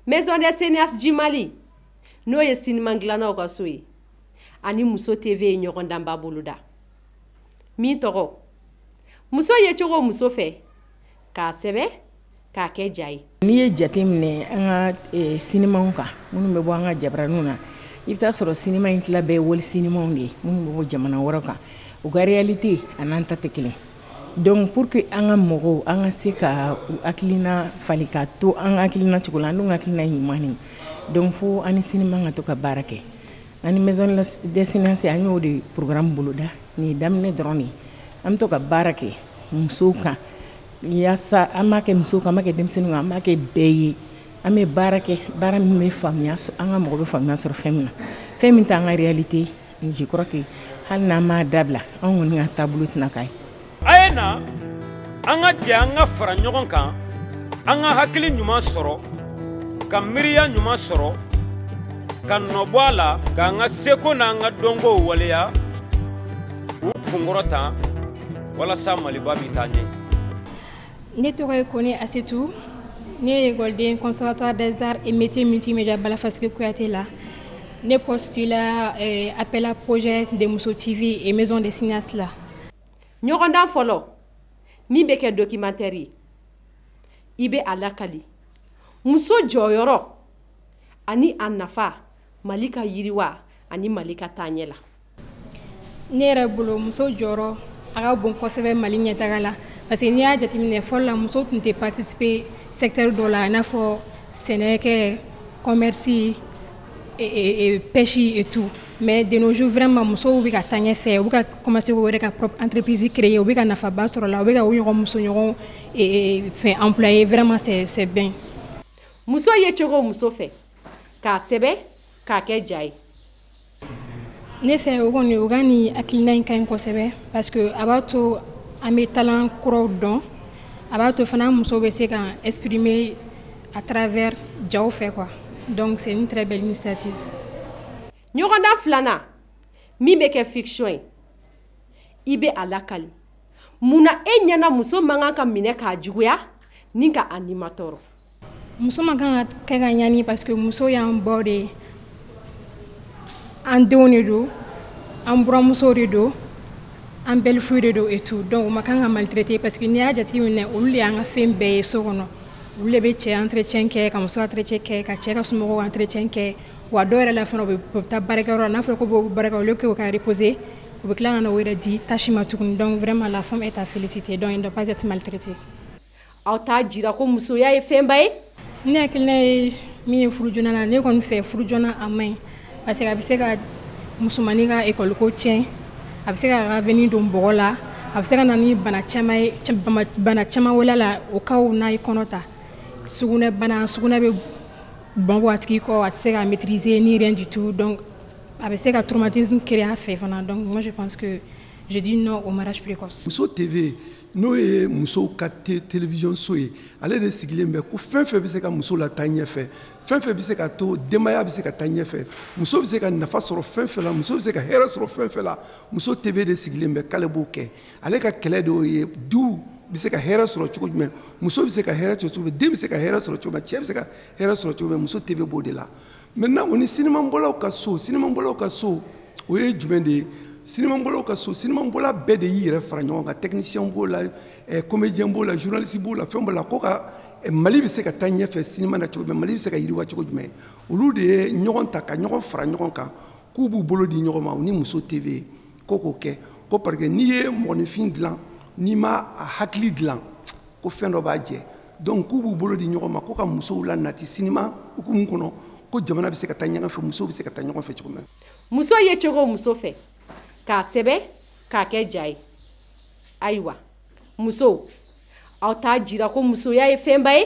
maison des cinéastes du mali n'o ye siniman dilannaw ka so ye ani muso tv ye ɲɔgɔndanba boloda min tɔgɔ muso yecogo muso fɛ k'a sɛbɛn k'a kɛ ja ye n'i ye jate minɛ an ka e, sinimaw kan minnu bɛ bɔ an ka jabaraniw na i bɛ taa sɔrɔ sinima in tila bɛɛ wali sinimaw de ye minnu bɛ bɔ jamana wɛrɛ kan u ka réalité an'an ta tɛ kelen donc pour que an ka mɔgɔw an ka se ka u hakilina falen ka to an ka hakilina cogo la an dun ka hakilina ye ɲuman de donc fo an ni sinima ka to ka baara kɛ an ni maison des cinéastes an y'o de programme boloda nin ye daminɛ dɔrɔn de ye an bɛ to ka baara kɛ musow kan yasa an b'a kɛ muso kan an b'a kɛ denmisɛnnin kan an b'a kɛ bɛɛ ye an bɛ baara kɛ baara min bɛ faamuya an ka mɔgɔ bɛ faamuya sɔrɔ fɛn min na fɛn min t'an ka réalité je crois que hali n'an m'a dabila an kɔni ka taabolo tɛna k'a ye a ye na an ka jɛ an ka fara ɲɔgɔn kan an ka hakili ɲuman sɔrɔ ka miiriya ɲuman sɔrɔ ka nɔbɔ a la k'an ka seko n'an ka dɔnkow waleya k'u kunkɔrɔta walasa maliba bɛ taa ɲɛ ne tɔgɔ ye kone asetu ne ye ekɔliden conservatoire des arts et métiers multimédia bala faseke kuyate la ne postula eh, appel à projet de muso tv et maison des cinéastes la ɲɔgɔndan fɔlɔ min bɛ kɛ documentaire ye i bɛ a lakali muso jɔyɔrɔ ani a nafa mali ka yiriwa ani mali ka taaɲɛ la ne yɛrɛ bolo muso jɔyɔrɔ a ka bon kosɛbɛ mali ɲɛtaga la parce que n'i y'a jateminɛ fɔlɔ la muso tun tɛ participer secteur dɔ la i n'a fɔ sɛnɛkɛ commerce pêche et tout mais de nos jours vraiment musow bɛ ka taa ɲɛfɛ u bɛ ka commencer k'u yɛrɛ ka propre entreprise créer u bɛ ka nafaba sɔrɔ a la u bɛ ka u ɲɔgɔn musoɲɔgɔn fana employer vraiment c'est c'est bien muso yecogo muso fɛ k'a sɛbɛn k'a kɛ ja ye ne fɛ o kɔni u ka nin hakilina in ka ɲi kosɛbɛ parce que a b'a to an bɛ talent kuraw dɔn a b'a to fana muso bɛ se ka exprimer à travers jaw fɛ quoi donc c'est une très belle initiative. ɲɔgɔndan filanan min bɛ kɛ fiction ye i bɛ a lakali mun na e ɲɛna muso man kan ka minɛ k'a juguya ni ka a nimatɔɔrɔ. muso man kan ka kɛ ka ɲani parce que muso y'an baw de ye an denw de don an buranmusow de don an belle-fillew de don et tout donc u man kan ka maltraité parce que n'i y'a jateminɛ olu de y'an ka fɛn bɛɛ ye so kɔnɔ olu de bɛ cɛ entretien kɛ ka muso entretien kɛ ka cɛ ka somɔgɔw entretien kɛ wa dɔw yɛrɛ la fana u bɛ taa baarakɛyɔrɔ la n'a fɔra k'u bɔ baarakɛyɔrɔ au lieu que u ka reposer u bɛ tila ka na u yɛrɛ di tâche ma tuguni donc vraiment la femme est à féliciter donc elle ne doit pas être maltraitée aw t'a jira ko musoya ye fɛnba ye ne hakilina ye min ye furu joona la ne kɔni fɛ furu joona a man ɲi parce que a bɛ se ka musomannin ka ekɔliko tiɲɛ a bɛ se k'a avenir don bɔgɔ la a bɛ se ka na ni bana caman ye bana caman wɛrɛ la au cas où n'a ye kɔnɔ ta sugunɛ bana sugunɛ bɛ bɔn bɔ a tigi kɔ a tɛ se k'a maîtriser ni rien du tout donc a bɛ se ka traumatisme créer a fɛ fana donc moi je pense que je dis non au mariage précoce. muso TV n'o ye musow ka télévision so ye ale de sigilen bɛ ko fɛn fɛn bɛ se ka muso lataa ɲɛfɛ fɛn fɛn bɛ se ka to denbaya bɛ se ka taa ɲɛfɛ muso bɛ se ka nafa sɔrɔ fɛn fɛn la muso bɛ se ka hɛrɛ sɔrɔ fɛn fɛn la muso TV de sigilen bɛ k'ale b'o kɛ ale ka kɛlɛ de y'o ye duw bɛ se ka hɛrɛ sɔrɔ cogo jumɛn muso bɛ se ka hɛrɛ sɔrɔ cogo jumɛn den bɛ se ka hɛrɛ sɔrɔ cogo jumɛn cɛ bɛ se ka hɛrɛ sɔrɔ cogo jumɛn muso TV b'o de la maintenant o ni sinimabɔlaw ka so sinimabɔlaw ka so o ye jumɛn de ye sinimabɔlaw ka so sinimabɔla bɛɛ de y'i yɛrɛ fara ɲɔgɔn kan technicien b'o la eh, comédien b'o la journaliste b'o la fɛn b'o la ko ka eh, mali bɛ se ka taa ɲɛfɛ sinima na cogo jumɛn mali bɛ se ka yiriwa cogo jumɛn olu de ye ɲɔgɔn ta ka ɲɔgɔn fara ɲɔgɔn kan k'u b'u bolo di ɲɔgɔn ma u ni muso tv ko k'o kɛ ko parce que n'i ye mɔgɔninfin dilan n'i ma a hakili dilan ko fɛn dɔ b'a jɛ donc k'u b'u bolo di ɲɔgɔn ma ko ka musow lanati sinima hukumu kɔnɔ ko jamana bɛ se ka taa ɲɔgɔn fɛ musow bɛ se ka taa ɲɔgɔn fɛ cogo min muso yecogo muso fɛ k'a sɛbɛn k'a kɛ ja ye ayiwa musow aw t'a jira ko musoya ye fɛnba ye